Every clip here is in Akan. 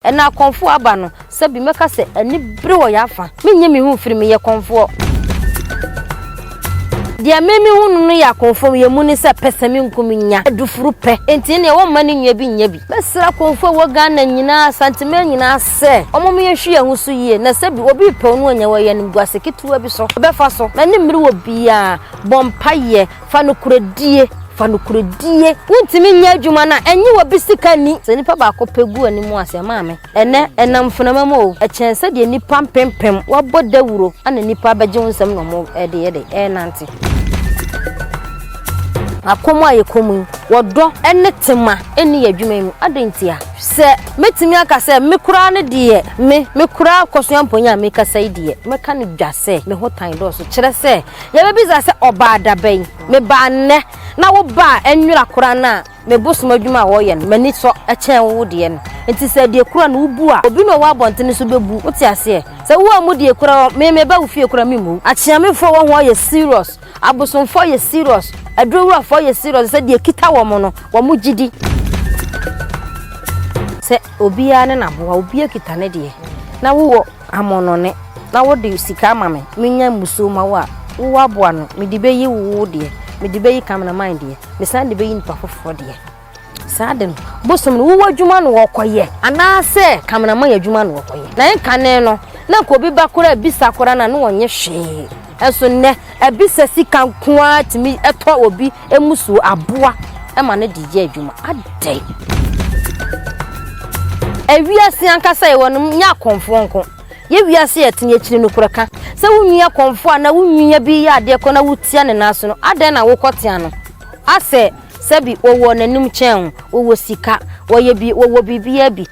Ɛna akɔmfoɔ aba no, sɛ bi mɛka sɛ anibere wɔ y'afa. Mennye me ho mfiri meyɛ kɔmfoɔ. Deɛ me me hunu no yɛ akɔmfoɔ yɛ mu ne sɛ pɛsɛmenkum nya adufuru pɛ enti ɛneɛ wɔmma ne nnua bi nyɛ bi. Mɛsrɛ akɔmfoɔ a ɛwɔ Ghana nyinaa, Asanteman nyinaa sɛ wɔmom yɛnhwe yɛn ho so yie na sɛ bi obi repɛw no anya wɔ yɛn animguase ketewa bi so ɔbɛfa so. M'animere wɔ biaa bɔ mpaeɛ. Fa nokorɛdie, fa nokorɛdie. Wontumi nyɛ adwuma no a, ɛnye obi sika nni. Sɛ nipa baako pɛ gu w'anim a, sɛ maame, ɛnnɛ ɛnam mfenama mu o, ɛkyɛn sɛdeɛ nnipa mpempem wɔabɔ dawuro na nnipa abɛgye wo nsam na wɔde yɛ dɛn? Ɛrenante. Akɔm a yɛkɔm yi, wɔ dɔ ne tema nni yɛn adwuma yi mu. Adɛn ntia? Sɛ mɛtumi aka sɛ me koraa no deɛ, me, me koraa Kɔsoa Mponye a merekasa yi deɛ, mɛka no dwa sɛ me ho tan dɔɔso, kyerɛ sɛ Yebebisa sɛ, Ɔbaa da bɛn? Mebaa nnɛ, na wo ba a ɛnwera koraa no a me bosom adwuma a wɔyɛ no, m'ani sɔ kyɛn wo deɛ no. Enti sɛ deɛ kura no wubu a, obi na ɔwɔ abɔntene so bɛbu. Wote aseɛ? Sɛ woammu deɛ kura hɔ, me meba wo fie koraa memmu wo. Akyeamefoɔ wɔ ho yɛ serious. Abosomfoɔ yɛ serious. Aduroworafoɔ yɛ serious sɛ deɛ ɛkita wɔn no, wɔn gye di. Sɛ obiara ne n'aboa, obiara kita ne deɛ, na wowɔ. Amonone, na wode sika ama me menya mmusuo ma wo a, wo aboa no, mede bɛyi wo wo deɛ, mede bɛyi cameraman deɛ, mesan de bɛyi nipa foforɔ deɛ. Saa de no, bosom no wowɔ adwuma na wɔkɔyɛ anaasɛ cameraman adwuma na wɔkɔyɛ. Na ɛnkane no, na nka obi ba koraa bisa koraa no a, na wɔnyɛ hwee. Nso nnɛ, ɛbi sɛ sika nko ara tumi tɔ obi mmusuo aboa ma no de yɛ adwuma. Adɛn? Ewiase ankasa yɛwɔ no nyɛ akɔmfoɔ nko. Yɛ wiase yɛ tene akyiri no korɛ ka. Sɛ wo nua kɔmfoɔ anaa wo nua bi yɛ adeɛ kɔ na wotia ne nan so no, adɛn na wokɔ tea no? Asɛ sɛbi wɔwɔ n'anim kyɛn wo, wɔwɔ sika, wɔyɛ bi, wɔwɔ biribiara bi.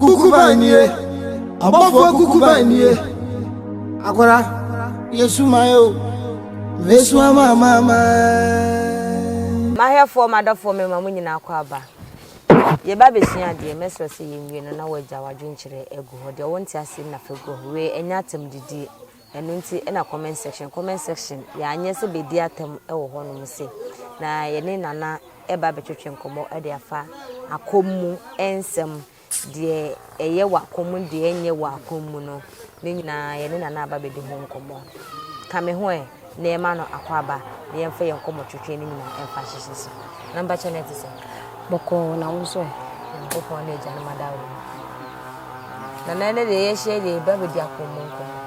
Kukuban nie! Abɔfoɔ kukuban nie! Akwara, yɛsu man o, mɛsu ama amanaman. M'ahwɛfoɔ, m'adɔfoɔ, mema mo nyinaa kɔ aba. Yɛreba abɛsua adeɛ. Mɛsrɛ sɛ yɛnwie no na woagya w'adwenkyerɛ agu hɔ. Deɛ wonte aseɛ no na fa gu hɔ. Wei, ɛnyɛ atam didie. Ɛno nti na comment section comment section yɛanyɛ sɛ bɛdi atam wɔ hɔ nom se na yɛne Nana ɛba abɛtwetwe nkɔmmɔ de afa akɔm mu nsɛm deɛ ɛyɛ wɔ akɔm mu deɛ ɛnyɛ wɔ akɔm mu no ne nyinaa yɛne Nana aba bɛdi ho nkɔmmɔ ka me ho ɛ na ɛma no akɔ aba na yɛmfa yɛn nkɔmmɔ twetwe ne nyinaa ɛmfa hyehyɛ so. Na mbakyɛ na ɛte sɛ. Bɔkɔɔ na wo nso ɛ. Nyankopɔn ne agya no ma da wo. Na na ɛnɛ deɛ yɛhyia deɛ ɛba bɛdi akɔmmu nkɔmmu.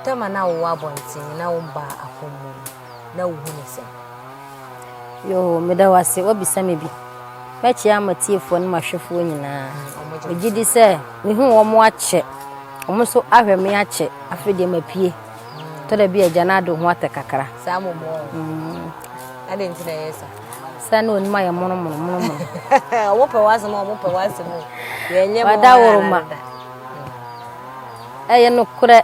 Tɛma na wowɔ abɔnten na wo mba akɔmmu na wohu ne sɛm. Yoo, meda wo ase, wabisa me bi. Mɛkyɛ ama tiefoɔ ne mahwɛfoɔ nyinaa. Megye di sɛ mehu wɔn akyɛ. Wɔn nso ahwɛ me akyɛ. Afei deɛ mapue. Tɔ da bi agya no ade ho atɛ kakra. Saa mo mo. Mm. Ade nti na yɛ sa. Sa na onima yɛ mono mono mono mono. Wo pɛ wasem o, mo pɛ wasem o. Yɛ nyɛ mo. Wada woroma. Ɛyɛ no korɛ.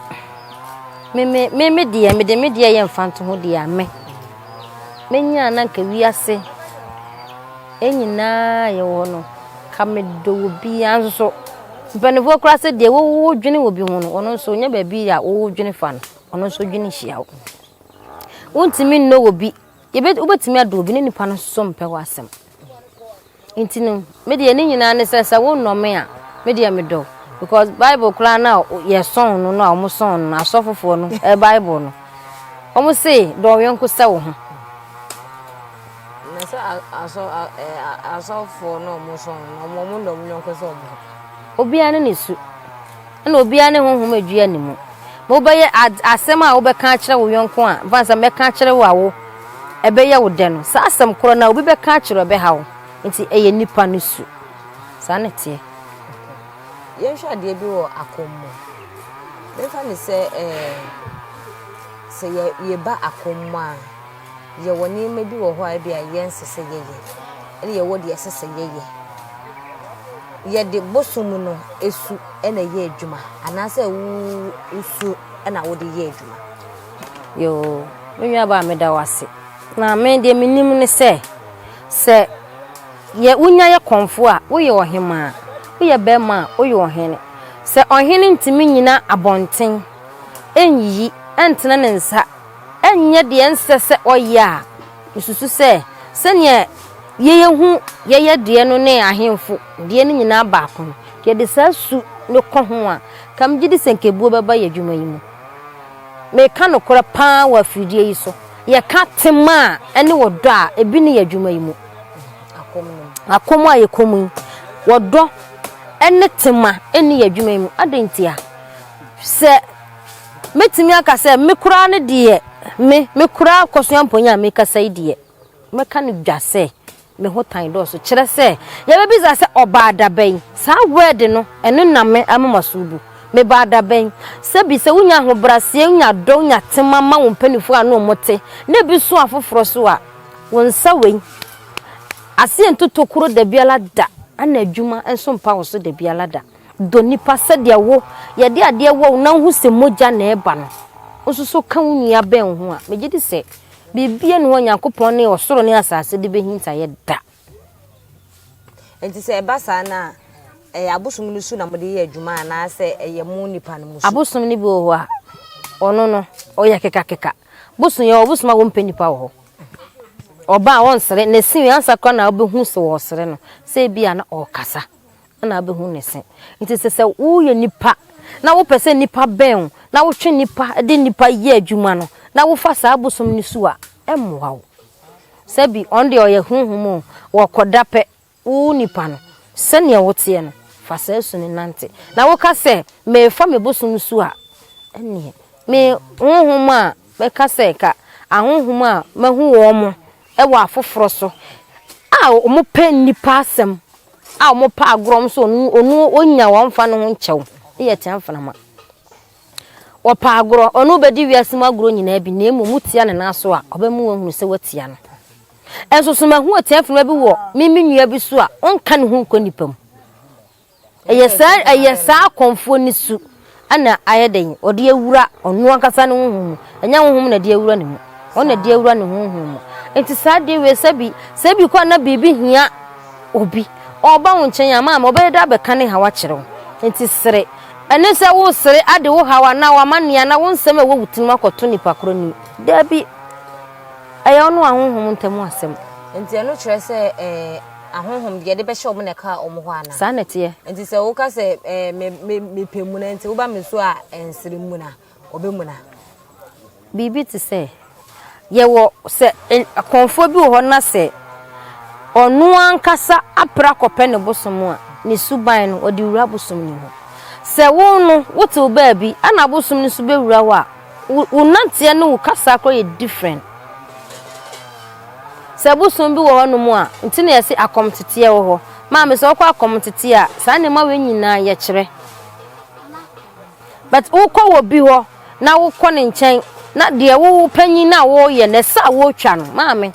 Me me me me deɛ me de me deɛ yɛ mfanto ho deɛ ame. Menya na nka wiase. Yɛn nyinaa a yɛwɔ hɔ no, ka medɔ wɔ biara nso so. Mpanimfoɔ koraa sɛ deɛ wodwene wɔ bi ho no, ɔno nso ɔnya baabi a wodwene fa no, ɔno nso dwene hyia wo. Wontumi nnɔ wɔ bi, wobɛtumi adɔ obi ne nipa no nso mpɛ w'asɛm. Nti no, me deɛ ne nyinaa ne sɛ sɛ wonnɔ me a, me deɛ medɔ because Bible koraa no a yɛsɔn no no a wɔsɔn no no asɔfofoɔ no Bible no, wɔn se dɔ yɔnko sɛ wo ho. Na sɛ asɔ asɔfoɔ na ɔmo sɔ no na ɔmo ɔmo nna ɔmo yɔnko sɛ ɔmo ho. Obiara ne ne su, ɛna obiara ne honhom a edua ne mu. Ma wobɛyɛ ad asɛm a wobɛka akyerɛ wo yɔnko a mfa nsɛ mɛka akyerɛ wo a wo ɛbɛyɛ wo dɛ no. Saa asɛm korɔ no a obi bɛka akyerɛ wo ɛbɛha wo. Nti ɛyɛ nipa no su. Saa na ɛteɛ. Yɛnhwɛ adeɛ bi wɔ akɔmmu. Yɛmfa no sɛ ɛɛ sɛ yɛ yɛba akɔmmu a. Yɛwɔ nneɛma bi wɔ hɔ a ebia yɛnsɛ sɛ yɛyɛ, ɛnna yɛwɔ deɛ ɛsɛ sɛ yɛyɛ. Yɛde bosom no su na ɛyɛ adwuma anaasɛ wo wo su na wode yɛ adwuma. Yoo, me nuabaa meda wo ase. Na me deɛ menim ne sɛ, sɛ yɛ wonya yɛ kɔmfoɔ a, woyɛ ɔhemaa, woyɛ barima a, woyɛ ɔhene. Sɛ ɔhene ntumi nnyina abɔnten nyiyi ntene ne nsa, ɛnyɛ deɛ ɛnsɛ sɛ ɔyɛ a, mesusu sɛ sɛdeɛ yɛyɛ hu yɛyɛ deɛ no ne ahemfo deɛ no nyinaa baako no, yɛde saa su no kɔ ho a, nka megye di sɛ nka ebuo bɛba yɛn adwuma yi mu. Meka nokorɛ pa ara wɔ afidie yi so. Yɛka tema a ne ɔdɔ a, ebi ne yɛn adwuma yi mu. Akɔm a yɛkɔ mu yi, ɔdɔ ne tema ne yɛn adwuma yi mu. Adɛn ntia? Sɛ Mɛtumi aka sɛ me koraa no deɛ me, me koraa Akosua Mponye a mekasa yi deɛ, mɛka no dwa sɛ me ho tan dɔɔso kyerɛ sɛ yɛbɛbisa sɛ ɔbaa da bɛn? Saa word no, ɛno na me amomaso bu. Mebaa da bɛn? Sɛbi sɛ wonya ahobraseɛ, wonya dɔ, wonya tema ma wo mpanifoɔ a ne wɔn te, na ebi so afoforɔ nso a, wo nsa wei aseɛ nto tokuro dabiara da, ɛna adwuma nso mpa wo so dabiara da. Dɔ nnipa sɛdeɛ wo, yɛde adeɛ wɔ wo na wohu sɛ mogya na ɛreba no, wo nso so ka wo nua bɛn wo ho a, megye di sɛ biribiara nni hɔ a Onyankopɔn ne ɔsoro ne asase de bɛhinta yɛ da. Enti sɛ ɛba saa no a, ɛyɛ abosom no su na mode yɛ adwuma anaasɛ ɛyɛ mo nipa no mu su? Abosom no bi wɔ hɔ a, ɔno no, ɔyɛ kekakeka. Bosom yɛ wɔ bosom a wɔmpɛ nipa wɔ hɔ. Ɔba a ɔnsere, na ɛsi ansa koraa na wobɛhu sɛ ɔresere no, sɛ ebi a na ɔrekasa. na abɛhunu ne se. Nti sɛ sɛ woyɛ nipa na wopɛ sɛ nipa bɛn wo na wotwe nipa de nipa yɛ adwuma no na wofa saa bosom no su a, ɛmmoa wo. Sɛ bi, ɔno deɛ ɔyɛ honhom o, wɔkɔ da pɛ, wo nipa no, sɛdeɛ woteɛ no, fa saa su no nante. Na woka sɛ, merefa me bosom su a, ɛnneɛ me honhom a mɛka sɛ ka ahonhom a mahu wɔn mo, wɔ afoforɔ so a wɔpɛ nnipa asɛm a wɔpɛ agorɔ nso ɔno ɔnya wɔn mfa ne ho nkyɛ wo ne yɛ tia mframa wɔpɛ agorɔ ɔno bɛdi wiase mu agorɔ nyinaa bi na mmom wotia ne nan so a ɔbɛmu wɔn hunu sɛ watia no nso so mahu ɔtia mframa bi wɔ me me nua bi so a ɔnka ne ho nkɔ nnipa mu Ɛyɛ saa ɛyɛ saa akɔmfoɔ no su na ayɛ dɛn ɔde awura ɔno ankasa ne honhom mu ɛnyɛ honhom na ɛde awura ne mu ɔno na ɛde awura ne honhom mu nti saa adeɛ wei sɛ bi sɛ bi kɔ na biribi hia obi ɔba wo nkyɛn ama ama ɔbɛyɛ dɛ abɛka ne haw akyerɛ wo nti sere ɛne sɛ wo sere ade wo haw anaa w'amanneɛ anaa wo nsɛm a ɛwɔ wo tirim akɔto nipa korɔ anim daabi ɛyɛ ɔno a honhom ntam asɛm nti ɛno kyerɛ sɛ ɛɛ. Ahonhom deɛ yɛde bɛhyɛ wɔn na ɛkaa wɔn hɔ anaa? Saa na ɛteɛ. Enti sɛ woka sɛ me, me, mepɛ muna nti woba me so a ɛnsere mmun a, wɔbɛmuna. Biribi te sɛ, yɛwɔ sɛ kɔmfoɔ bi wɔ hɔ na sɛ ɔno ankasa apere akɔpɛ ne bosom a, ne suban no, ɔde wura bosom no mu. Sɛ wo no, wote wo baabi, ɛna abosom no nso bɛwura hɔ a, Wo wo nanteɛ ne wo kasa koraa yɛ different. Sɛ bosom bi wɔ hɔ nom a, nti na yɛse akɔm teteɛ wɔ hɔ. Maame sɛ wokɔ akɔm teteɛ a, saa nneɛma wei nyinaa yɛkyerɛ. But wokɔ wɔ bi hɔ na wokɔ ne nkyɛn na deɛ wo wo panyin no a woyɛ no, ɛsɛ a wotwa no. Maame,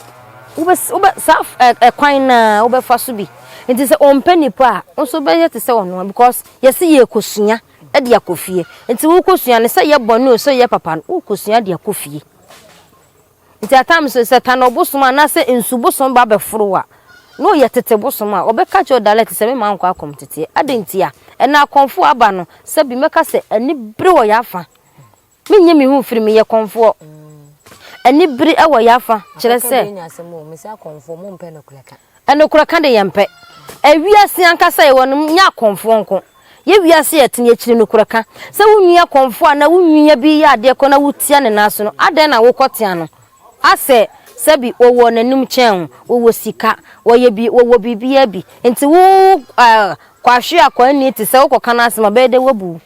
wobɛ wobɛ saa f ɛ ɛkwan no ara wobɛfa so bi. Nti sɛ ɔmpɛ nipa a, wo nso wobɛyɛ te sɛ ɔno ara because yɛse yɛrekɔsua. de akɔ fie. Nti wokosua no sɛ yɛ bɔne o sɛ yɛ papa no wokosua de akɔ fie. Nti at times no sɛ tano bosom anaasɛ nsu bosom ba bɛforo wo a na ɔyɛ tete bosom a ɔbɛka kyerɛ wo direct sɛ me maa nkɔ akɔm teteɛ. Adɛn ntia? Ɛnɛ akɔmfoɔ aba no sɛbi mɛka sɛ ani bere wɔ yɛn afa. Mennye me ho mfiri me yɛ kɔmfoɔ. Anibere wɔ yɛn afa kyerɛ sɛ. Nokorɛ ka de yɛmpɛ. Wiase ankasa a yɛwɔ no nyɛ akɔmfoɔ nko. Yɛ wiase a yɛte no yɛkyiri nokorɛ ka. Sɛ wo nua kɔmfoɔ anaa wo nua bi reyɛ adeɛ kɔ na wotia no nan so no, adɛn na wokɔtea no? Asɛ, sɛbi, wɔwɔ n'anim kyɛn wo, wɔwɔ sika, wɔyɛ bi, wɔwɔ biribiara bi. Nti wo, eh, kwahweakwa nni te sɛ wokɔka no asɛm a, ɛbɛyɛ dɛn wɔabu wo?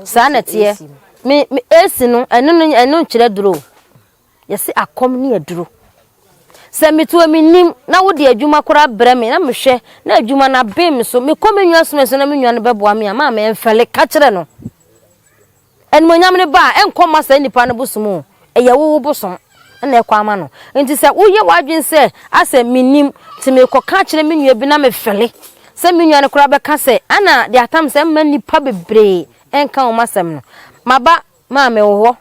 Saa na ɛteɛ. Me, me AC no, ɛno no, ɛno nkyerɛ duro o. Yɛse akɔm ne aduro. Sɛ metu a mennim, na wode adwuma koraa brɛ me, na mehwɛ, na adwuma no abem me so. Mekɔ me nua som so na me nua no bɛboa me a, maame ɛmfɛle, ka kyerɛ no. Animuonyam no ba a, ɛnkɔ mma saa nipa no bosom o. Ɛyɛ wo wo bosom. na ɛkɔ ama no. Enti sɛ woyɛ w'adwene sɛ, 'Asɛ minnim, enti merekɔka akyerɛ me nua bi na mefɛre sɛ me nua no koraa bɛka sɛ, 'Ana de atam sɛ mma nnipa bebree nka wo m'asɛm no? M'aba, ma mewɔ hɔ.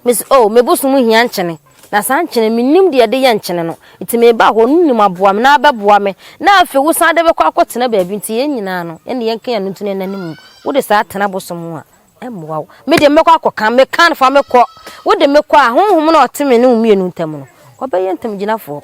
Mise, Oh, me bosom hia nkyene, na saa nkyene, minnim deɛ yɛde yɛ nkyene no, enti meba hɔ, no nim aboa me, na abɛboa me, na afei wosan de bɛkɔ akɔtena baabi, enti yɛn nyinaa no, yɛne yɛn nka yɛn ano nti na yɛn nna no mu. Wode saa tena bosom ho a, Ɛmmoa wo. Me deɛ mɛkɔ akɔka, meka no fa mekɔ. Wode me kɔ a, Honhom no a ɔte me ne wo mmienu ntam no, ɔbɛyɛ ntamgyinafoɔ.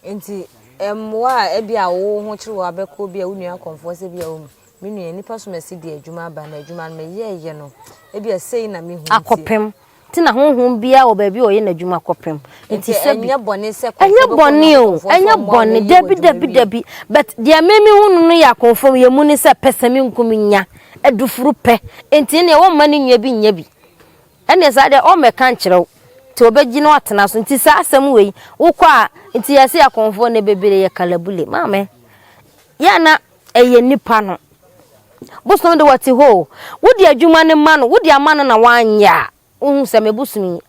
Enti mmoa a ebia wo ho kyere wo a bɛkɔ ebia wo nua akɔmfoɔ sɛ ebia wɔn mu, me nua, nnipa som asi deɛ adwuma aba na adwuma no meyɛeɛ no, ebia sei na mehu nti. Akɔpem Te na honhom biara wɔ baabi a ɔyɛ n'adwuma kɔpem. Nti sɛbi. Ɛnyɛ bɔne sɛ kɔnfɔ bɛkɔ nyankopɔn fɔm a wɔyɛ adwuma wie. Ɛnyɛ bɔne o, ɛnyɛ bɔne, dabi dabi dabi. But deɛ me me hunu no yɛ akɔnfɔm yɛ mu ne sɛ pɛ sɛ me nku me nya adufuru pɛ. Nti neɛ wɔmma ne nua bi nyɛ bi. Ɛneɛ saa deɛ ɔmmɛka nkyerɛ wo. Nti ɔbɛgye na watena so. Nti saa asɛm wei wokɔ a nti yɛse akɔnfɔ nnɛ bebree yɛ kalabule. Maame yɛ na Ɛyɛ nipa no. Bosom de wɔte hɔ o, wode adwuma no ma no, wode ama no na wanyɛ a, wohu sɛ me bosom yi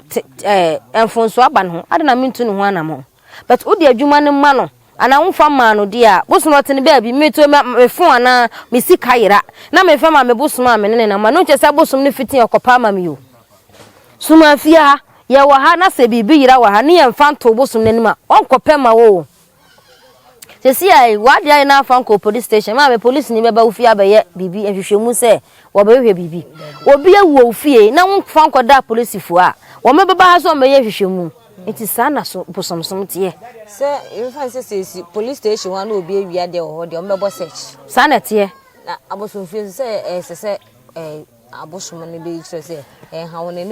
te ɛɛ mfonso aba ne ho, adɛn na mentu ne ho anamɔn? But wode adwuma no ma no anaa womfa mmaa no deɛ a, bosom ɔte ne baabi, meto me me phone anaa me sika yera na memfa ma me bosom a me ne no nam a, ɛno nkyerɛ sɛ bosom no fiti ɔkɔpɛ ama me o. Soma fie ha, yɛwɔ ha na sɛ biribi yera wɔ ha ne yɛmfa nto bosom no anim a, ɔnkɔpɛ mma wo o. Sɛsi ara yi, w'ade ayɛ na afa nkɔ polisi station, maame polisini bɛba wo fie abɛyɛ biribi nhwehwɛmu sɛ wɔbɛhwehwɛ biribi. Obi awu wɔ wo fie na womfa nkɔda polisifo a, wɔbɛba ha sɛ wɔbɛyɛ nhwehwɛmu. Enti saa na so bosomsom teɛ. Sɛ yɛmfa no sɛ sɛ esi polisi station hɔ a na obi awia deɛ wɔ hɔ deɛ, wɔbɛbɔ search. Saa na ɛteɛ. Na abosomfie nso sɛ ɛsɛ sɛ ɛɛ.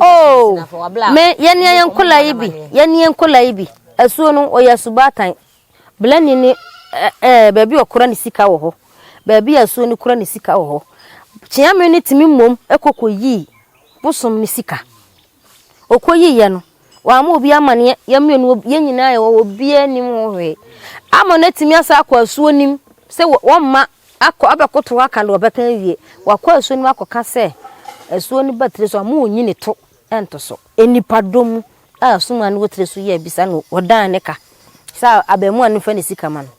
Oh, me, yɛn nea yɛn nkɔla yi bi, yɛn nea nkɔla yi bi, asuo no ɔyɛ asubaatan. Belani ne ɛɛ eh, eh, baabi ɔkora ne sika wɔ hɔ, baabi a asuo no kora ne sika wɔ hɔ. Kyeame no tumi mmom kɔ kɔ yii bosom ne sika Ɔkɔyiiɛ no, wamma obiara amaneɛ, yɛn mmienu wɔ, yɛn nyinaa yɛwɔ hɔ, obiara nnim ho hwee. Ama no atumi asan akɔ asuo no mu sɛ wɔ, wɔmma akɔ, abɛkoto hɔ aka deɛ ɔbɛka awie. Wakɔ asuo no mu akɔka sɛ, asuo no ba tire so a, mo nyi ne to nto so. Nnipadɔm mu a asuman no wɔ tire so yi abisa no, ɔdan ne ka sɛ abarimaa no mfa ne sika ma no.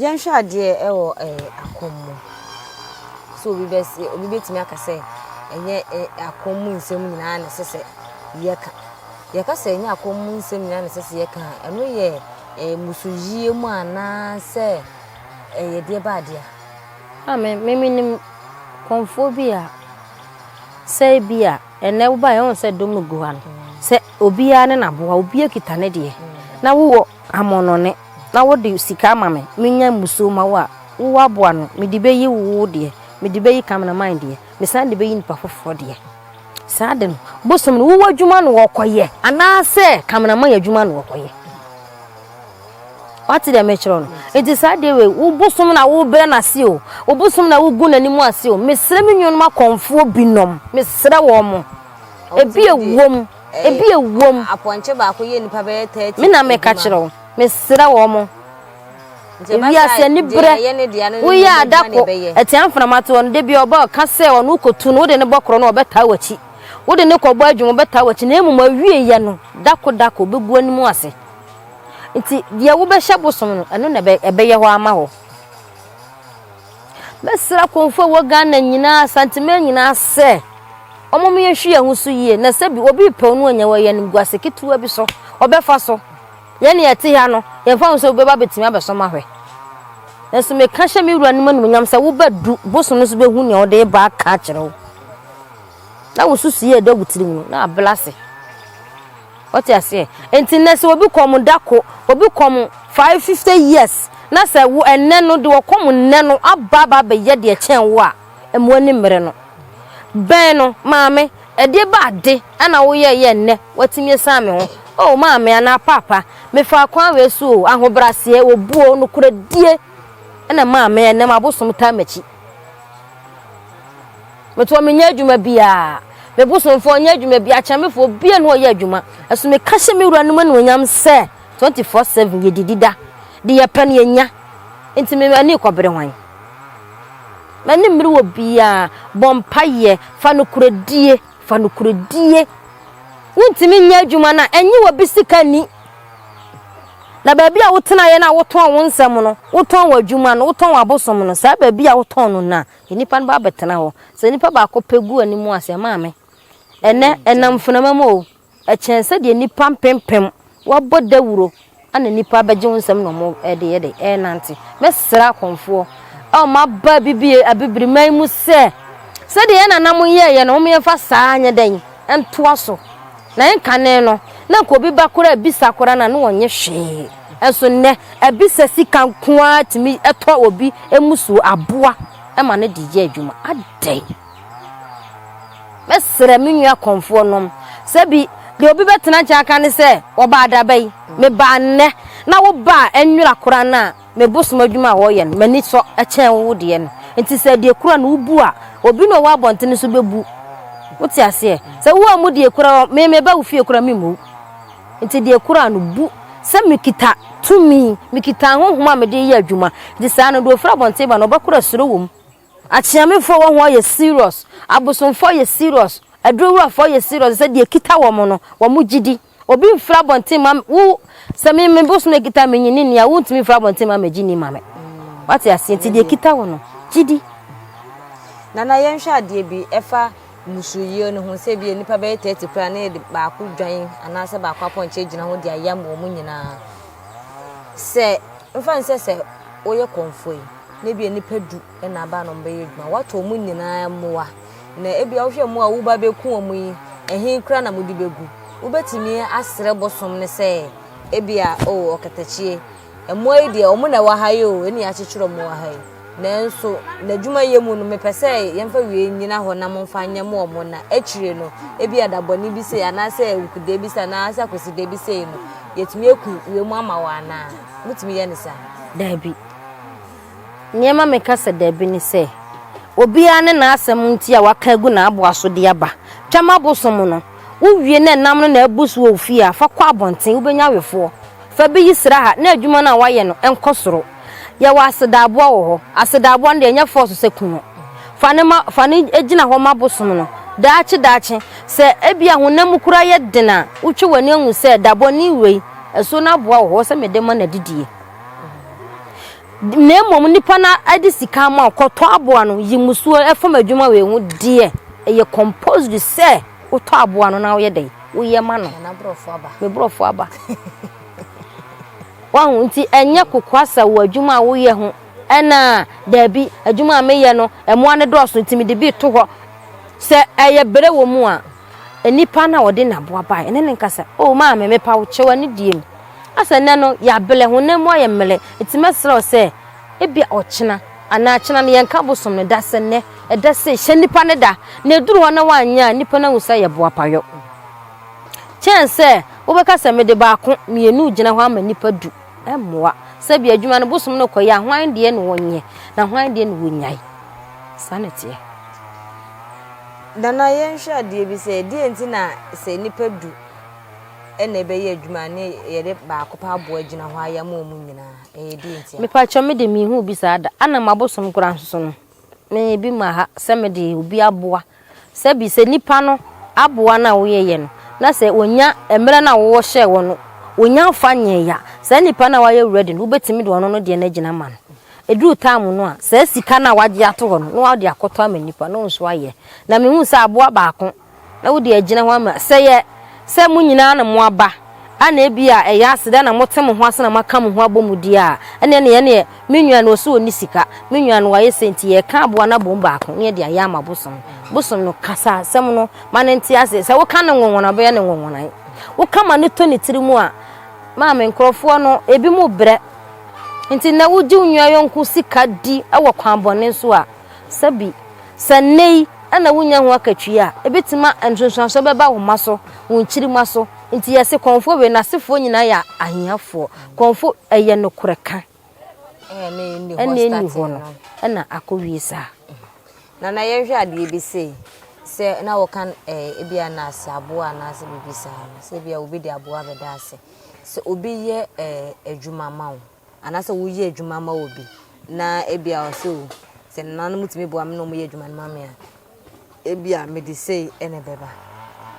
Yɛnhwɛ adeɛ wɔ ɛɛ akɔm mu. So obi bɛ se obi bɛtumi aka sɛ ɛnyɛ ɛ akɔm mu nsɛm nyinaa na ɛsɛ sɛ yɛka. Yɛka sɛ ɛnyɛ akɔm mu nsɛm nyinaa na ɛsɛ sɛ yɛka a, ɛno yɛ ɛɛ mmusuyie mu anaasɛ ɛyɛ deɛ ba adeɛ a? A me menim kɔmfoɔ bi a sɛ ebia. Ɛnɛ wo ba yɛ wohu sɛ dɔm gu ha no sɛ obiara ne naboa obiara kita ne deɛ na wo wɔ amɔnɔne na wo de sika ama me me nya musuo ma wo a wo wɔ aboa no me de bɛ yi wo wo deɛ me de bɛ yi camera man deɛ me san de bɛ yi nipa foforɔ deɛ saa de no bosom no wo wɔ adwuma no wɔ kɔ yɛ anaa sɛ camera man adwuma no wɔ kɔ yɛ. wate deɛ mekyerɛ no nti saa deɛ wei wo bosom na wobrɛ no ase o wo bosom na wogu n'anim ase o mesrɛ me nuanom akɔmfoɔ binom mesrɛ wɔn mo ebi ewom ebi ewom apɔnkye baako yɛ nipa bɛyɛ tɛɛti me na meka kyerɛ wo mesrɛ wɔn mo ebi ase ani brɛ woyɛ adako ɛte anframa toɔ no debi ɔba ɔka sɛ ɔno kotu no wode ne bɔ korɔ no ɔbɛtaa w'akyi wode ne kɔbɔ adwuma ɔbɛtaa w'akyi na emu ma wie yɛ no dako dako bɛgu anim ase Nti deɛ wobɛhyɛ bosom no, ɛno na ɛbɛyɛ hɔ ama hɔ. Mɛsrɛ akomfoɔ a ɛwɔ Ghana nyinaa, Asanteman nyinaa sɛ, wɔn mo yɛhwe yɛn ho so yie, na sɛ bi obi pɛw no anya wɔ yɛn animguase ketewa bi so, ɔbɛfa so. Yɛn na yɛte ha no, yɛmfa ho sɛ obi bɛba bɛtumi abɛsom ahwɛ. Nanso meka hyɛ me wura no mu animuonyam sɛ wobɛdu bosom no so bɛhu nea ɔde reba aka akyerɛ wo. Na wosusu yɛ da wo tirim no, na abla ase. Ɔte aseɛ? Nti nnɛ sɛ obi kɔm dako, obi kɔm five fifty years na sɛ wo ɛnnɛ no deɛ ɔkɔm nnɛ no aba aba abɛyɛ deɛ ɛkyɛn wo a, mmu ani mmere no. Bɛn no, Maame, ɛdeɛ bɛ ade na wo yɛɛ yɛ nnɛ woatumi asiane me ho? Oh, Maame anaa Paapa, me faa kwan wei so o, ahobraseɛ, obuo, nokorɛdie na Maame ɛnnɛ m'abosom taa m'akyi. Metoɔ menyɛ adwuma biaa. Me bosomfoɔ nyɛ adwuma biaa kyamefoɔ biaa nni hɔ ɔyɛ adwuma ɛso meka hyɛ me wura nom animuonyam sɛ 24 seven yɛdidi da de yɛpɛ no yɛnya nti me ani rekɔbere hwan mani mmere wɔ biaa bɔ mpaeɛ fa nokoredie fa nokoredie wontumi nyɛ adwuma no a ɛnye wɔbi sika nni na baabi a wotenaeɛ no a wotɔn wo nsɛm no wotɔn w'adwuma no wotɔn w'abosom no saa baabi a wotɔn no no a Nnipa no ba bɛtena hɔ. Sɛ nnipa baako pɛ gu anim a, sɛ maame, ɛnnɛ ɛnam mfenama mu o, ɛkyɛn sɛdeɛ nnipa mpempem wɔabɔ dawuro na nnipa bɛgye wo nsam na wɔde yɛ dɛ ɛrenante. Mɛsrɛ akɔmfoɔ a wɔaba abibie Abibiriman mu sɛ, sɛdeɛ yɛn nananom yɛeɛ no, wɔmfa saa nyɛ dɛn? ntoa so na nkane no na nka obi ba koraa bisa koraa na na ɔnye hwee nso nnɛ abisa sika nko ara tumi tɔ obi mmusuo aboa ma no de yɛ adwuma adɛn mɛsrɛ me nua kɔnfoɔ nom sɛ bi deɛ obi bɛtena nkyɛn aka ne sɛ wɔbaa daba yi mebaa nnɛ na wobaa nwera koraa no a Me bosom adwuma a wɔyɛ no, m'ani sɔ kyɛn wo deɛ no. Enti sɛ deɛ kura no wobu a, obi na ɔwɔ abɔnten nso bɛbu. Wote aseɛ? Sɛ woammu deɛ kura hɔ, me meba wo fie koraa memmu wo. Enti deɛ kura no, bu. Sɛ mekita tumi, mekita ahonhom a mede reyɛ adwuma. Enti saa no, deɛ ɔfiri abɔnten ba no, ɔbɛkora suro wom. Akyeamefoɔ wɔ ho yɛ serious. Abosomfoɔ yɛ serious. Aduro wurafoɔ yɛ serious sɛ deɛ ɛkita wɔn no, wɔn gyidi. Obi mfiri abɔnten mma me, wo, sɛ me, me bo so na ɛkita me nyi ne nni a, wontumi mfiri abɔnten mma megye ni ma me. Wate aseɛ? Nti deɛ ɛkita wo no, gye di. Nana, yɛnhwɛ adeɛ bi ɛfa mmusuoyie no ho, sɛ bi nnipa bɛyɛ 30 koraa na yɛde baako dwan anaasɛ baako apɔnkye agyina ho de ayam wɔn nyinaa. Sɛ, mfa no sɛ sɛ woyɛ kɔmfoɔ yi, na bi nnipa du na aba na wɔbɛyɛ adwuma, woatɔ wɔn nyinaa mmoa. Na ebia wohwɛ mmoa a woreba abeku wɔn yi, ɛhe koraa na mode begu? Wubetumi asrɛ bosom no sɛ ebia, o, ɔkatakyie, mmoa yi deɛ, wɔn na ɛwɔ ha yi o, ɛnna yɛakyekyere wɔn wɔ ha yi. Nanso, n'adwumayɛ mu no, mepɛ sɛ yɛmfa wie nnyina hɔ na momfa nyɛ mo wɔn, na akyire no, ebia da bɔne bi sei, anaasɛ awukudeɛ bi sei, anaasɛ akwasideɛ bi sei no, yɛatumi aku wiem ama wɔn anaa? Motumi yɛ no saa? Dabi. Nea ɛma meka sɛ dabi ne sɛ, obiara ne n'asɛm nti a waka agu n'aboa so de aba. Twam abosom no, wuwie na nam no na abu so wɔ wo fie a, fa kɔ abɔnten, wubenya wefoɔ. Fa bi yi sra ha na adwuma no a woayɛ no nkɔ soro. Yɛwɔ asedaaboa wɔ hɔ. Asedaaboa no deɛ, ɛnyɛ fɔɔso sɛ ku no. Fa no ma, fa no gyina hɔ ma abosom no. Daakye daakye, sɛ ebia honam mu koraa yɛ den a, wotwe w'ani hu sɛ dabɔne wei, asuo no aboa wɔ hɔ, ɛwɔ sɛ mede ma no adidie. Na mmom nnipa no de sika ama wo kɔtɔ aboa no yi musuo ɛfam adwuma wei ho deɛ ɛyɛ composed sɛ wotɔ aboa no na woyɛ dɛn woyɛ ma no me borɔfo aba wahu nti ɛnyɛ kokoa sɛ wɔ adwuma a woyɛ ho ɛna daabi adwuma a meyɛ no ɛmoa no dɔɔso nti mede bi to hɔ sɛ ɛyɛ bere wɔ mu a Nipa no a ɔde n'aboa bae ne no kasa, O maame, mepa wo, kyɛ w'anidie mu. Asɛ nnɛ no, yɛablɛ, honam mu ayɛ mmrɛ, enti mɛsrɛ wo sɛ, ebia ɔkyena, anaa kyena no, yɛnka bosom no da, sɛ nnɛ, ɛda sei, hyɛ nipa no da, na ɛduru hɔ na woanyɛ a, nipa no ahu sɛ ayɛ boapayɔ. Kyɛn sɛ wobɛka sɛ, mede baako, mmienu regyina hɔ ama nipa du. Ɛmmoa. Sɛdeɛ adwuma no bosom no kɔeɛ a, hwan deɛ na ɔnyɛ, na hwan deɛ na ɔnyae? Saa na ɛteɛ. Nana yɛnhwɛ adeɛ bi sɛ, deɛ nti na sɛ nnipa du na ɛbɛyɛ adwuma ne yɛde baako paa aboa gyina hɔ ayam wɔn nyinaa, ɛyɛ deɛ nti a? Mepakyɛw me de menhuu bi saa da, ana mabosom koraa nso no meyɛ bi ma ha sɛ me de obi aboa sɛ bi sɛ nnipa no aboa no a wo yɛyɛ no na sɛ wɔnya mmerɛ no a wo wɔ hyɛɛ wɔn no wɔnya mfa nyɛɛ a saa nnipa no a wayɛ ready no wobɛtumi de ɔno no deɛ no agyina ama no. Ɛduru taamu no a, saa sika no a woagye ato hɔ no, na wode akɔtɔ ama nnipa, na wo nso ayɛ. Na mehuu sɛ aboa baako, na wode agyina hɔ ama. Sɛ ɛyɛ sɛ mo nyinaa na moaba, a na ebia ɛyɛ aseda na mote mo ho ase na moaka mo ho abɔ mu di a, ɛnneɛ na yɛn deɛ, me nua no, ɔse ɔnni sika, me nua no, wayɛ sei, nti yɛreka aboa no abom baako, na yɛde ayɛ ama bosom. Bosom no, kasa asɛm no ma no nte aseɛ. Sɛ woka no nwonwono a, ɔbɛyɛ no nwonwonae. Woka ma no tɔ ne tiri mu a, maame, nkurɔfoɔ no, ebinom brɛ. Enti nnɛ wogye wo nua yɔnko sika di wɔ kwan bɔne so a, sa bi. Sɛ nnɛ yi na wunnya ho akatua a, ebetumi ma nsunsuanso bɛba wo mma so, wo nkyirimma so. Enti yɛse kɔmfoɔ wei n'asefoɔ nyinaa yɛ ahiafoɔ. Kɔmfo, ɛyɛ nokorɛ ka. Ɛnna enni hɔ no, ɛnna akowie saa. Nana, yɛnhwɛ adeɛ bi sei. Sɛ na wɔka eh, ebia nurse aboa anaasɛ biribi saa no, sɛ ebia obi de aboa bɛda ase. sɛ obi yɛ adwuma ma wo anaasɛ woyɛ adwuma ma obi na ebia ɔsɛ o sɛ nananom tumi boa me na wɔyɛ adwuma no ma me a ebia mede sei na ɛbɛba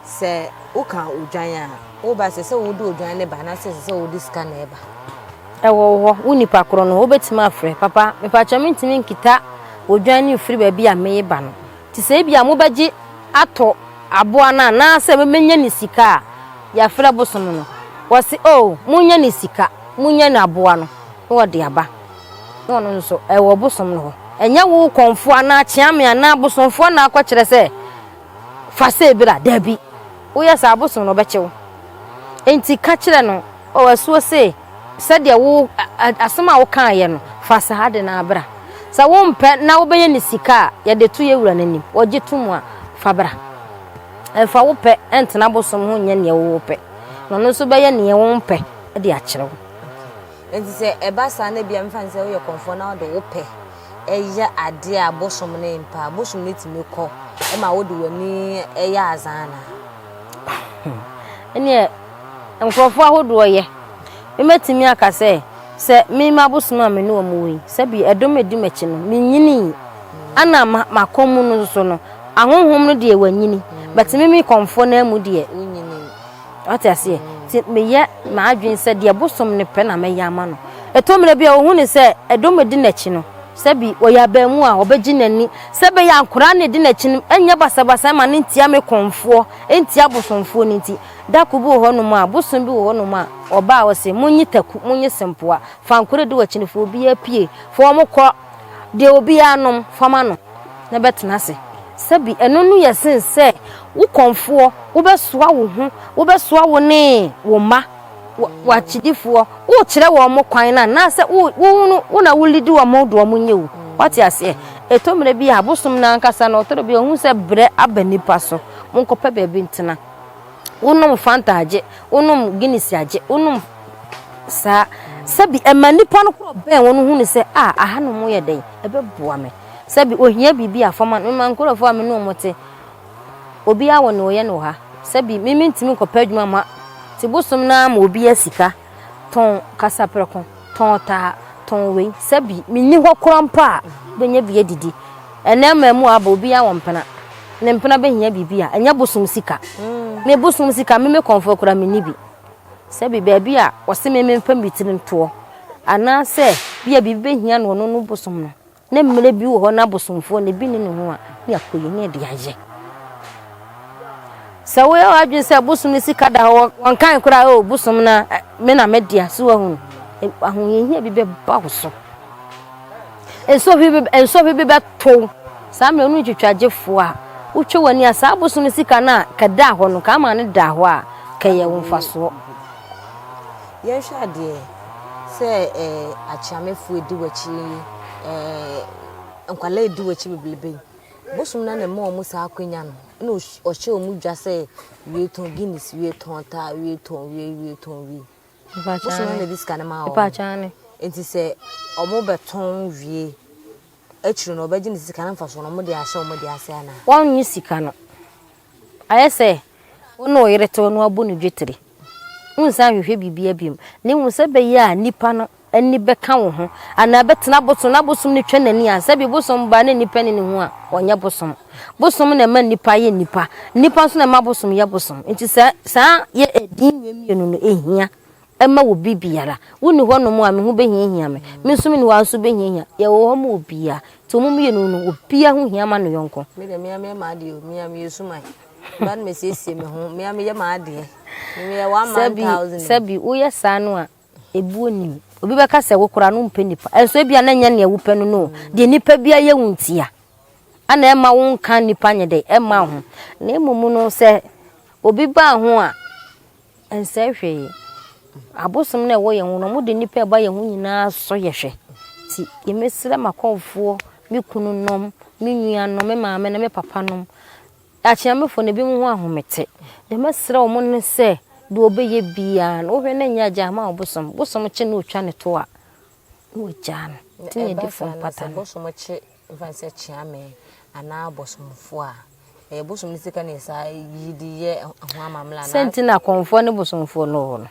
sɛ woka odwan a woba sɛ sɛ wode odwan ne ba anaasɛ sɛ sɛ wode sika na ɛba ɛwɔ hɔ wo nipa korɔ no wobɛtumi afrɛ papa mepakyɛ mentumi nkita odwan no mfiri baabi a meye ba no te sɛ ebia mobɛgye atɔ aboa no anaasɛ mobɛnya ne sika a yɛfrɛ bosom no. Wɔse, Oh, monnya ne sika, monnya ne aboa no na ɔde aba, na ɔno nso ɛwɔ bosom no hɔ. Ɛnyɛ wo kɔmfoɔ anaa kyeame anaa bosomfoɔ na akɔkyerɛ sɛ fa sei bra, dabi, woyɛ saa a bosom no bɛkye wo. Enti ka kyerɛ no, Oh, asuo sei. Sɛdeɛ wo asɛm a wokaeɛ no, fa saa ade no ara bra. Sɛ wompɛ na wobɛyɛ no sika a, yɛde to yɛn wura no anim. Ɔgye to mu a, fa bra. Mfa wo pɛ ntena abosom ho nyɛ deɛ wopɛ, na ɔno nso bɛyɛ deɛ wompɛ de akyerɛ wo. Enti sɛ ɛba saa na ebia mfa no sɛ woyɛ kɔmfoɔ na wode wo pɛ yɛ adeɛ a bosom no mpɛ a, bosom no tumi kɔ ma wode w'ani yɛ adze anaa? Ɛnneɛ. Nkurɔfoɔ ahodoɔ yɛ. Mɛtumi aka sɛ, sɛ me m'abosom a me ne wɔn wɔ yi, sɛ bi ɛdɔm a ɛdi m'akyi no, me nyinii, ɛna m'akɔm mu no nso no, ahonhom no deɛ wɔanyini, but me me kɔmfoɔ no ara mu deɛ, wonyinii. Wate aseɛ? Nti meyɛ m'adwene sɛ deɛ bosom no pɛ na mɛyɛ ama no. Ɛtɔ mmerɛ bi a ɔhu no sɛ ɛdɔm a ɛdi n'akyi no, sɛ bi ɔyɛ abaamu a, ɔbɛgye n'ani, sɛ ɛbɛyɛ a nkwadaa no a ɛdi n'akyi no nnyɛ basabasa mma no ntia me kɔmfoɔ, ntia abosomfoɔ no nti. Da kor bi wɔ hɔnom a, bosoom bi wɔ hɔnom a, ɔbaa hɔ se, Monye taku, monye sempoa, fa nkor edi w'akyen, fa obiara pue, fa hɔn kɔ, deɛ obiara nom, fa ma no, na bɛtena ase. Sɛbi ɛno no yɛ sen sɛ wo kɔmfoɔ, wobɛsoa wo ho, wobɛsoa wo ne wo mma, w'akyidifoɔ, worekyerɛ wɔn kwan no anaasɛ wo wo wo na wolidi wɔn de wɔn nyɛ o. Woate aseɛ? Ɛtɔ mmerɛ bi a, bosom no ankasa no, ɔtɔ da bi a, ɔhu sɛ berɛ aba nnipa so, monkɔpɛ baabi ntena. Wonom Fanta agye, wonom Guinness agye, wonom saa. Sɛbi ɛma nnipa no korɔ bɛn wɔn hu no sɛ a ahanom yɛ dɛn, ɛbɛboa me. Sɛbi ohia biribi a fama no ma nkurɔfoɔ a me ne wɔn te. Obiara wɔ nea ɔyɛ no wɔ ha. Sɛbi me mentumi nkɔpɛ adwuma ma te bosom no ara ma obiara sika. tɔn kasaprɛko, tɔn taa, tɔn wei, sɛ bi menni hɔ koraa mpo a, wobɛnya bi adidi. Ɛnnɛ mmaamua aba, obiara wɔ mpena. Ne mpena bɛhia biribi a, ɛnyɛ bosom sika. Me bosom sika, me me kɔmfoɔ koraa menni bi. Sɛ bi baabi a wɔse me memfa me tiri ntoɔ, anaasɛ bi a biribi bɛhia no, ɔno no bosom no. Na mmere bi wɔ hɔ na abosomfoɔ no, ebi nni ne ho a, ne akoyi ne ɛde ayɛ. Sɛ woyɛ w'adwene sɛ bosom no sika da hɔ, wɔnkan koraa o, oh, bosom no me na medea so ahunu. Ahohiahia bi bɛba wo so. Nsɔhwe bi bɛtow. Saa mmerɛ no ntwitwagyefoɔ a, wotwe w'ani a saa bosom no sika no a kɛdaa hɔ no, ka ama no daa hɔ a, kɛyɛ wo mfasoɔ. Yɛnhwɛ adeɛ sɛ ɛɛ akyeamefoɔ edi w'akyi yi, ɛɛ nkwadaa edi w'akyi bebrebe yi, bosom no ara na ɛma wɔn saa akwanya no, ɛna ɔhyɛ wɔn dwa sɛ wie tɔn Guinness, wie tɔn ta, wie tɔn wie, wie tɔn wie. Bosom no ara na ɛde sika no ma wɔn. Nti sɛ wɔbɛtɔn wie, akyiri no wɔbɛgye ne sika no mfasoɔ no wɔde ahyɛ wɔn deɛ ase anaa? Wɔnnye sika no. Ayɛ sɛ wo ne wo yere tew na wabu no dwetire. Wonsan nhwehwɛ biribiara bio, na mmom sɛ ɛbɛyɛ a nnipa no ani bɛka wo ho anaa ɛbɛtena bosom na bosom no twa n'ani a, sɛbe bosom baa na nnipa nni ne ho a, ɔnyɛ bosom. Bosom na ɛma nnipa yɛ nnipa. Nnipa nso na ɛma bosom yɛ bosom. Enti saa yɛ din wei mmienu no, ehia. Mma wɔ bere biara. Wonni hɔnom a, me ho behiahia me. Me nso menni hɔ a, nso behiahia. Yɛwɔ hɔ ma obiara. Nti wɔn mmienu no, obiara ho hia ma ne yɔnko. Me deɛ, me ara meyɛ m'adeɛ o. Me ara meyɛ suman. Me ara na mesiesie me ho. Me ara meyɛ m'adeɛ. Me meyɛ one man thousand o. Sɛbi woyɛ saa no a, ebuo nnim. Obi bɛka sɛ, Wo koraa no wompɛ nnipa. Nanso ebia na ɛnyɛ nea wopɛ no no o. Deɛ nnipa biara yɛ wo ntia na ɛmma wonka nnipa nyɛ dɛn? Ɛmma wo ho. Na mmom no, sɛ obi ba wo ho a, Ɛnsɛe hwee. Abosom no a ɛwɔ yɛn ho no, wɔde nnipa a ɛba yɛn ho nyinaa sɔ yɛn hwɛ. Nti mesrɛ m'akɔmfoɔ, me kununom, me nuanom, me maame ne me papanom, Akyeamefoɔ no, ebinom ho ahomete. Deɛ mɛsrɛ wɔn ne sɛ, deɛ wɔbɛyɛ biara no, wohwɛ na nyɛ agyaa ma ɔbosom. Bosom kye na ɔtwa ne toa, na wagyaa no. Nti na yɛde funu pata no. Mfa no sɛ Kyeame anaa Bosomfoɔ a, ɛyɛ bosom no sika na ɛsa yi de yɛ ho amammerɛ anaa? Sɛ nti na Kɔmfoɔ ne Bosomfoɔ no wɔ no.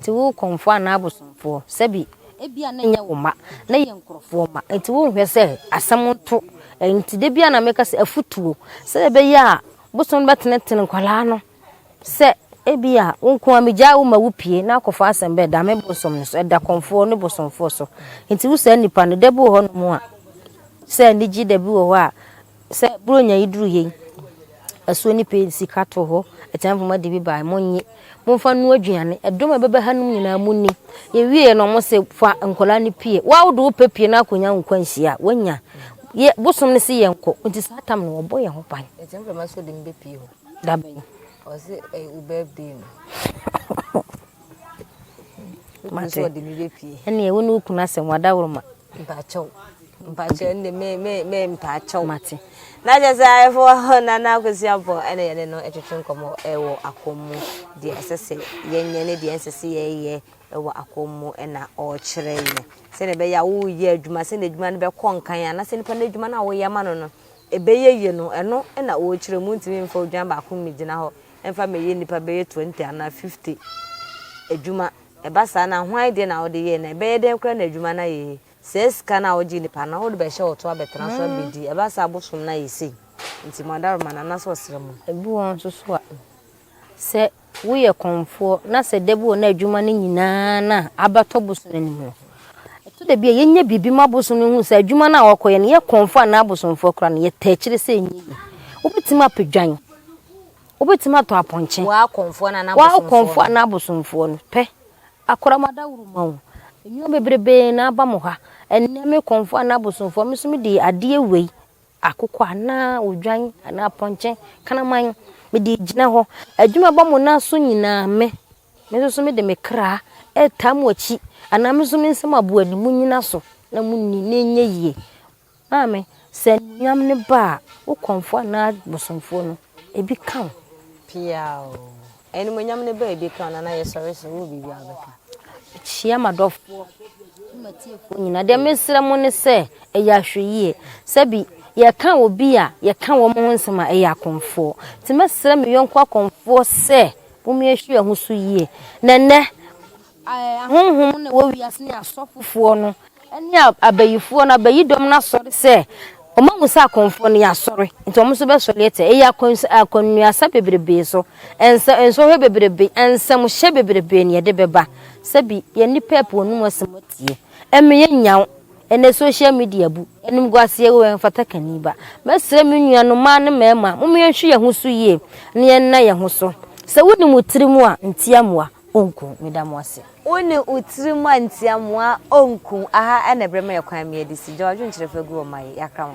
Nti wo Kɔmfoɔ anaa Bosomfoɔ, sɛbi, ebia na ɛnyɛ wo mma, na ɛyɛ nkorɔfoɔ mma. Nti wonhwɛ sɛ asɛm nto. Nti da biara na meka sɛ afutuo, sɛdeɛ ɛbɛyɛ a bosom no bɛtenetene nkwadaa no Sɛ ebia wo nko ara migyaa wo ma wupue na akɔfa asɛm bɛɛ da me bosom no so, ɛda kɔmfoɔ ne bosomfoɔ so. Enti wo saa nnipa no, da bi wɔ hɔnom a, sɛ anigye da bi wɔ hɔ a, sɛ buronya yi duru he, asuo no pue, sika to hɔ, atua mfama de bi bae, monnye, momfa nnoa aduane, ɛdɔm a ɛbɛba hanom nyinaa munni. Yɛwieeɛ no, wɔse fa nkwadaa no pue. Wo a wode wo pɛ pue na akɔnya wo kwanhyia a, woanya. Yɛ, bosom no se yɛnkɔ, enti saa tam no wɔbɔ yɛn ho ban. Enti mframa nso de me bɛpue hɔ. Dabɛn? Ɔse ɛyɛ wo birthday no. Wopɛ sɛ ɔde me bɛ pie. Ɛneɛ wo ne wo kunu asɛm wada woro ma. Mpakyɛw. Mpakyɛw ɛnde me me me mpakyɛw. Mate. Na kyɛ sɛ ayɛfo hɔ na na akosua bɔ ɛna yɛne no ɛtwetwe nkɔmɔ ɛwɔ akɔmmu deɛ ɛsɛ sɛ yɛnyɛ ne deɛ ɛnsɛ sɛ yɛyɛ ɛwɔ akɔmmu ɛna ɔkyerɛ yɛ sɛdeɛ ɛbɛyɛ a woyɛ adwuma sɛdeɛ adwuma no bɛkɔ nkan a na sɛ nipa no adwuma no a woyɛ ma no no ɛbɛyɛ yie no, ɛno na wɔrekyerɛ. Montumi mfa odwan baako mmɛgyina hɔ mfa mmɛyɛ nnipa bɛyɛ twenty anaa fifty adwuma. Ɛba saa no a, hwan deɛ na wode yɛe, na ɛbɛyɛ dɛn koraa na adwuma no ayɛ yie? Saa sika no a wogyee nnipa no, wode bɛhyɛ wɔn to abɛtena so abɛdi. Ɛba saa a, bosom no ayɛ sei. Enti mo adaworoma no, anaasɛ ɔsram mu. Ebi wɔ hɔ nso so a, sɛ woyɛ kɔmfoɔ na sɛ da bi wɔ na adwuma no nyinaa na abɛtɔ bosom anim no, ɛtɔ da bi a yɛnyɛ biribi ma bosom no hu sɛ adwuma no a wɔkɔyɛ no yɛ kɔmfoɔ anaa bosomfoɔ kora no yɛtaa akyire sɛ ɛnyɛ yi. Wobɛtumi apɛ dwan. Wobɛtumi atɔ apɔnkye. Waa kɔmfoɔ anaa bosomfoɔ no pɛ. Akora ma da woro ma wo. Nnwuma bebrebee na aba mo ha. Ɛnnɛ me kɔmfoɔ anaa bosomfoɔ me nso mede adeɛ wei Akokɔ anaa odwan anaa apɔnkye kraman, mede regyina hɔ. Adwuma bɔ mo nan so nyinaa, me, me nso so mede me kra retaa mo akyi, anaa me nso me nsam aboa ni, monnyina so na monni, na ɛnyɛ yie. Maame, sɛ anuonyam no ba a, wo kɔmfoɔ anaa bosomfoɔ no, ebi ka wo. Piaw! Animuonyam ne baabi ka ɔno na yɛsɔre so wɔ biribi a bɛka. Kyia m'adɔfoɔ ne m'atiefoɔ nyinaa. Deɛ mesrɛ mo ne sɛ ɛyɛ ahwɛyie. Sɛbi yɛka obi a yɛka wɔn ho nsɛm a ɛyɛ akɔmfoɔ. Nti mɛsrɛ me yɔnko akɔmfoɔ sɛ mommie hwɛ yɛn ho so yie. Na ɛnnɛ Ahonhom no a ɛwɔ wiase ne asɔfofoɔ no ne abayifoɔ no, abayidɔm no asɔre sɛ wɔahu sɛ akɔmfoɔ no yɛasɔre, nti wɔn nso bɛsɔre atia. Ɛyɛ akwansi, akwannuasa bebrebe so, nsa, nsɔhwɛ bebrebe, nsamhyɛ bebrebe na ɛde bɛba. Sɛbi yɛn nnipa ɛpo wɔn anom asɛm atie. Ɛmeyɛ nyaw. Ɛnɛ social media bu. Animguaseɛ wɔ hɔ, ɛmfata kani ba. Mɛsrɛ me nuanom mmaa ne mmarima, momma yɛnhwɛ yɛn ho so yie na yɛnna yɛn ho so. Sɛ wonim wo tirim a, ntiamoa. Onku, meda mo ase. Wo ne wo tirim a ntia moa onku aha ɛna ɛbrɛ ma yɛ kwan me adi si gya wadwenkyerɛ fa gu wɔ ma yɛ yakra ho.